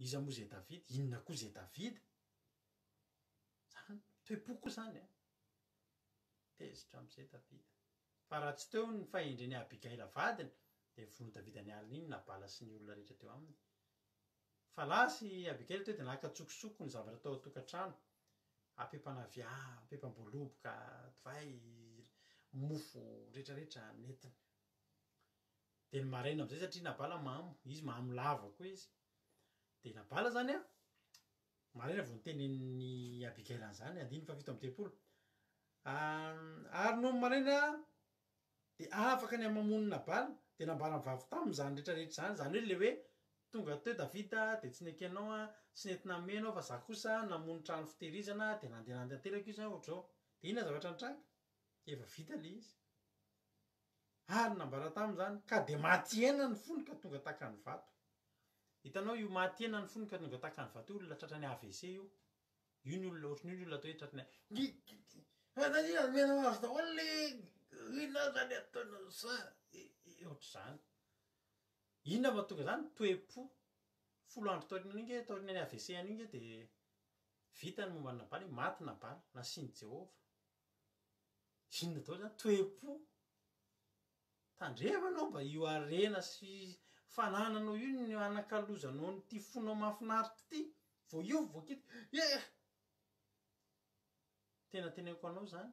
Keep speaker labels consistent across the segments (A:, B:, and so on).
A: Iza moa izay Davida? Inona koa izay Davida? Izany, toe-po koa izany an! Tezitra amin'izay Davida. Fa raha tsy teo ny fahendren'i Abigaila vadiny, dia vonoin'i Davida ny alina iny Nabala sy ny olona rehetra teo aminy. Fa lasa i Abigaila teo dia naka an-tsokosoko ny zavatra tao an-tokantrano, ampiam-panaviàna, ampiam-pam-boaloboka, divay, mofo rehetrarehetra nentiny. dia ny maraina amizay satria nabala mamo izy mamo lava koa izy dia nabala zany an maraina vao nitenenin'i Abigail an'izany andininy fahafito amby dimampolo ary nony maraina dia afaka ny hamamon'i nabala dia nambara ny vavy taminy izany rehetra rehetra izany izany hoe le hoe tonga teo Davida dia tsy nekenao ianao an tsy nety nanome ianao fa za kosa namono trano fitehirizana dia nandeha nandeha tanteraka io zany ohatr'izao dia inona zavatra nitranga efa vita le izy Ary nambara taminy izany, ka dia maty hena ny fony ka tonga takany vato. Hitanao io maty hena ny fony ka tonga takany vato io olona tratran'ny avc io. Io ny olona ohatran'io ny olona atao hoe tratran'ny Omenao azy daholo le inona aza le ataonao sa ohatr'izany. Inona no mahatonga izany, toe-po. Folo andro taorian'iny ange taorian'ny avc an'iny ange dia vita ny momba an'i Nabala, maty Nabala, nasian'i Jehovah. Inona daholo zany? Toe-po? Tandremo anao mba io harena sy fanananao io no hanakalozanao an'ity fonao mahafinaritra ity, vao io vao kit eh! Tena teneniko anao zany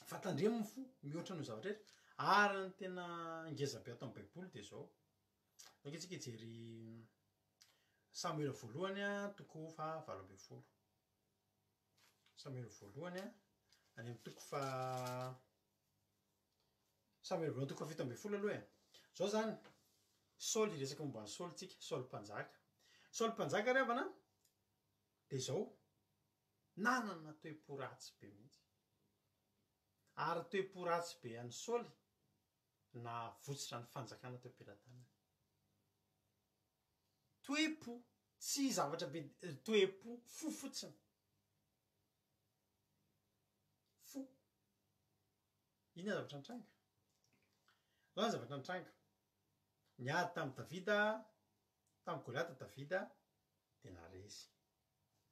A: fa tandremo ny fo mihoatra noho ny zavatra rehetra ary ny tena ngeza be ato am' baiboly de zao, zao tsika hijery Samoela voalohany a toko faha valo amby folo. Samuel voalohany a, any amin'ny toko faha, Samuel voalohany toko fahafito ambin'ny folo aloha e. Izao izany, Saoly, hiresaka momba an'i Saoly isika, Saoly mpanjaka. Saoly mpanjaka ry havana an, dia izao, nanana toe-po ratsy be mihitsy. Ary toe-po ratsy be an'i Saoly, nahavotsitra ny fanjakana teo am-pelatanany. Toe-po, tsy zavatra be dia toe-po, fo fotsiny. Fo. Inona zavatra nitranga? Inona ny zavatra nitranga? Niady tamin'i Davida, tamin'i Goliata Davida, dia naharesy.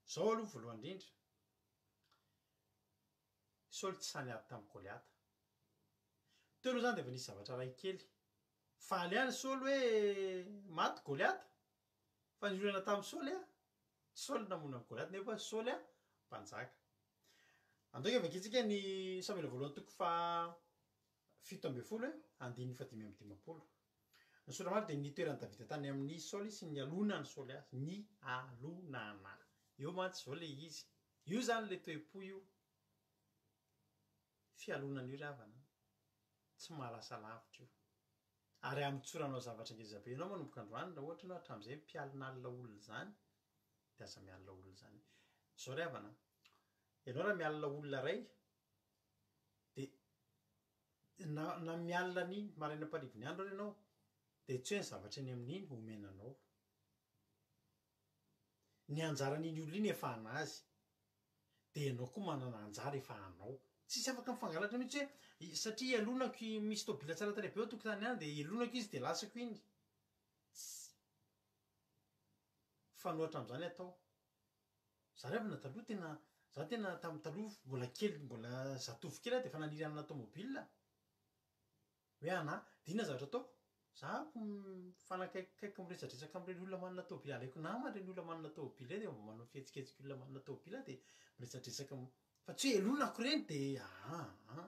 A: Izao aloha voalohany indrindra, Saoly tsy sahy niady tamin'i Goliata. Teo aloha izany dia efa nisy zavatra iray kely Faly any Saoly hoe maty Goliata? Fa ny olana tamin'i Saoly a, tsy Saoly no namono an'i Goliata nefa Saoly a, mpanjaka. Antoky vakintsika ny Samoela voalohany toko faha fito ambin'ny folo e, andininy faha dimy amby dimampolo. Ny sora maro dia ny nitoeran'i Davida tany amin'i Saoly sy ny nialonan'i Saoly azy, nialonana. Eo mantsy izao ilay izy. Io izany ilay toe-po io. fialonana io ry havana an! tsy mahalasa lavitra io. Ary hamotsoranao zavatra ngeza be ianao manomboka androany raha ohatra ianao hatramin'izay mpialona alina olona izany dia aza mialona olona izany. Izao ry havana an! ianao raha mialona olona iray dia na na mialona an'iny marainam-parivon'ny andro ary ianao dia tsy hoe ny zavatra eny amin'iny omena anao. Ny anjaran'iny olona iny efa anazy, dia ianao koa manana anjara efa anao. Tsisy afaka mifangalatra mihitsy hoe satria ialonako i misy tôbila tsara tarehy be eo an-tokotany any dia elonako izy dia lasako iny. Tsy mifanohatra amin'izany atao. Za ry havana taloha tena, za tena tamin'ny taloha mbola kely mbola zatovo kely aho dia efa naniry hanana tômôbila. Hoe ana, dia inona zavatra ataoko? Za mifanakaikikaiky miresadresaka amin'ireny olona manana tômôbily, alaiko namana ireny olona manana tômôbily ireny dia mba manao fihetsiketsika olona manana tômôbily aho dia miresadresaka am-, fa tsy hoe helonako ireny dia aa.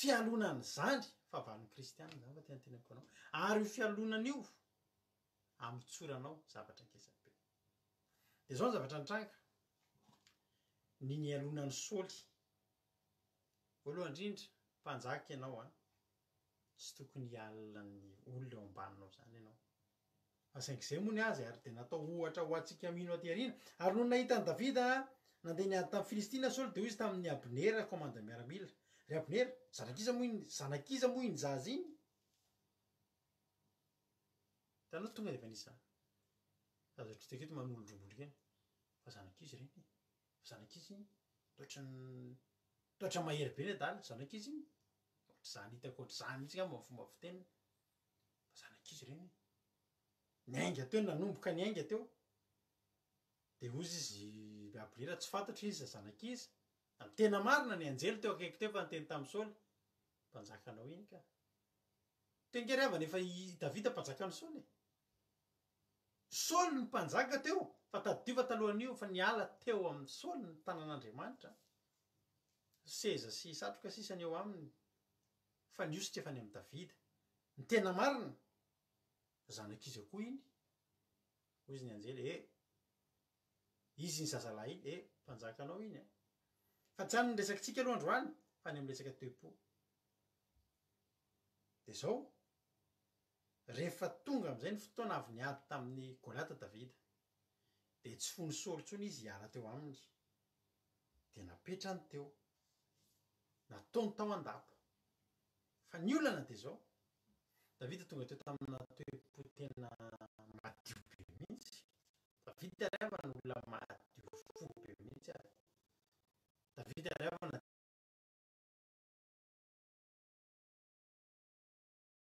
A: Fialonana izany fahavalon'ny kristiana izany fa tena teneniko anao. Ary io fialonana io, amotsoranao zavatra ngezabe. Dia izao ny zavatra nitranga, ny nialonan'i Saoly. Voalohany indrindra, mpanjaka ianao an! tsy tokony hiala ny olona eo ambaninao izany ianao. Fa saingy izay moa ny azy ary dia natao ohatra ho antsika mino aty aoriana. Ary nony nahita an'i Davida nandeha niady tamin'ny Filistina Saoly dia hoy izy tamin'i Abnera kaomandin'ny miaramila, Ry Abnera, zanak'iza moa iny, zanak'iza moa iny zaza iny? Hitanao tonga dia efa nisy izany. Aza otrikaina ato manolo-drongony ireny fa zanak'iza ireny e? Zanak'izy iny, toetra toetra mahery be ny adala, zanak'izy iny, ohatr'izany hitako ohatr'izany mihitsy angamba ny fomba fiteniny, fa zanak'izy ireny, niainga teo, nanomboka niainga teo, dia hoy izy Gabriela tsy fantatro iza zanak'iza, ary tena marina ny anjely teo akaiky teo efa niteny tamin'i Saoly, mpanjakanao iny ka, tengera havana efa i Davida mpanjakan'i Saoly e, Saoly ny mpanjaka teo, fa tadidio fa talohan'io fa niala teo amin'i Saoly ny tanan'Andriamanitra, ny seza sy satroka sisa ny eo aminy, fa ny hositra efa any amin'i Davida. Ny tena marina, zanak'iza koa iny? Hoy izy ny anjely, Ee, izy iny zazalahy iny, ee, mpanjakanao iny an! Fa tsy any ny resakitsika aloha androany, fa any amin'ny resaka toe-po. Dia izao. Rehefa tonga amin'izay ny fotoana avy niady tamin'i Goliata Davida, dia tsy fony Saoly intsony izy hiala teo aminy, dia napetrany teo, nataony tao an-dapa. Fa ny olana dia izao, Davida tonga teo tamina toe-po tena madio be mihitsy. Davida ry havana olona madio fo be mihitsy ary. Davida ry havana.